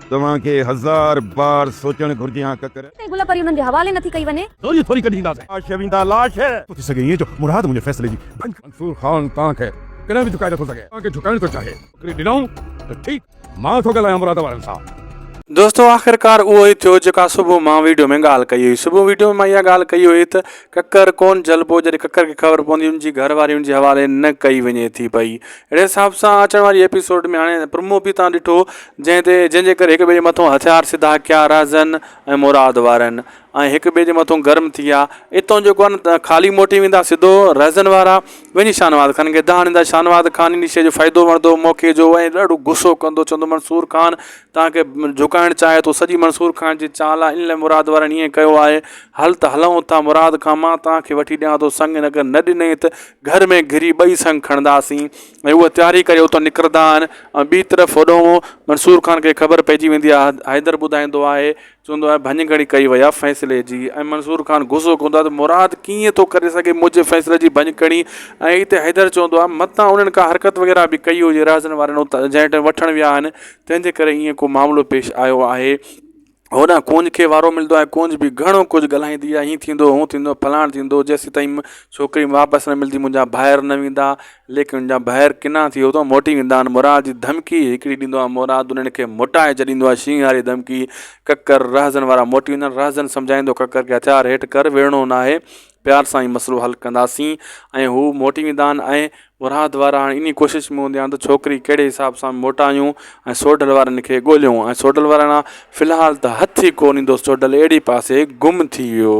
توهان کي هزار بار سوچڻ گهرجي ها ڪڪر. تي گل پري انهن جي حوالي نٿي ڪئي وڃي. ٿوري ٿوري ڪڍي اينداسين. لاش ويندا لاش. ٿو ٿي سگهي ائين جو مراد منهنجي فيصلي جي ڀڃ. منصور خان توهان کي ڪڏهن به جهڪائي نٿو سگهي. توهان کي جهڪائڻ ٿو چاهي. نوڪري ڏنائون ته ٺيڪ. مان ٿو ڳالهايان مراد وارن سان. دوستو آخرڪار اهو ئي ٿيو جيڪا صبح مان ويڊيو ۾ ڳالهه ڪئي هئي. صبح ويڊيو ۾ مان اها ڳالهه ڪئي هئي ته ڪڪر ڪونه جهلبو جڏهن ڪڪر کي خبر پوندي ان جي گهر واري ان جي حوالي نه ڪئي وڃي ٿي پئي اهڙي حساب سان اچڻ واري ايپيسوڊ ۾ هاڻي پرمو به تان ڏٺو جنهن تي جنهن جي ڪري هڪ ٻئي جي مٿو هٿيار سڌا ڪيا رازن ۽ مراد وارن ۽ هڪ ٻئي جي مٿو گرم ٿي ويا اتو جيڪو آهي نه خالي موٽي ويندا سڌو رازن وارا وڃي شاهنواز خان کي دانهن ڏيندا شاهنواز خان ان شي جو فائدو وڻندو موقعي جو ۽ ڏاڍو غصو ڪندو چوندو منصور خان تان کي جهڪائڻ چاهي ٿو سڄي منصور خان جي چال آهي ان لاء مراد وارن ائين ڪيو آهي هل ته هلئون ٿا مراد خان مان تان کي وٺي ڏيان ٿو سڱ ان اگر نه ڏنئي ته گهر ۾ گهري ٻئي سڱ کڻنداسين ۽ اهي تياري ڪري اتان نڪرندا آهن ۽ ٻي طرف هوڏانهن منصور خان کي خبر پئجي ويندي آهي حيدر ٻڌائيندو آهي چوندو آهي ڀڃ گهڻي ڪئي وئي آهي فيصلي جي ۽ منظور خان غصو ڪندو آهي ته مراد ڪيئن ٿو ڪري سگهي منهنجي فيصلي جي ڀڃ کڻي ۽ اتي حيدر چوندو آهي متان انهن ڪا حرڪت وغيره به ڪئي هجي رهزن وارن اتان جنهن ٽائم وٺڻ ويا آهن تنهن جي ڪري ائين ڪو معاملو پيش آيو آهي هوڏانهن ڪونج کي وارو ملندو آهي ڪونج به گهڻو ڪجهه ڳالهائيندي آهي هيئن ٿيندو هون ٿيندو فلاڻ ٿيندو جيسيتائين م ڇوڪري واپس نه ملندي منهنجا ڀائر نه ويندا ليڪن ان جا بهر ڪنا ٿي اتان موٽي ويندا آهن مراد جي ڌمڪي هڪڙي ڏيندو آهي مراد انهن کي موٽائي ڇڏيندو آهي شينهن واري ڌمڪي ڪڪر رهزن وارا موٽي ويندا آهن رهزن سمجهائيندو ڪڪر کي هٿيار هيٺ ڪر وڙهڻو ناهي پيار سان ئي مسئلو حل ڪنداسين ۽ هو موٽي ويندا آهن ۽ مراد وارا هاڻي انهي ڪوشش ۾ هوندا آهن ته ڇوڪري ڪهڙي حساب سان موٽايون ۽ سوڍل وارن کي ڳوليون ۽ سوڍل وارا في الحال ته هٿ ئي ڪو نه ايندو سوڍل اهڙي پاسي گم ٿي ويو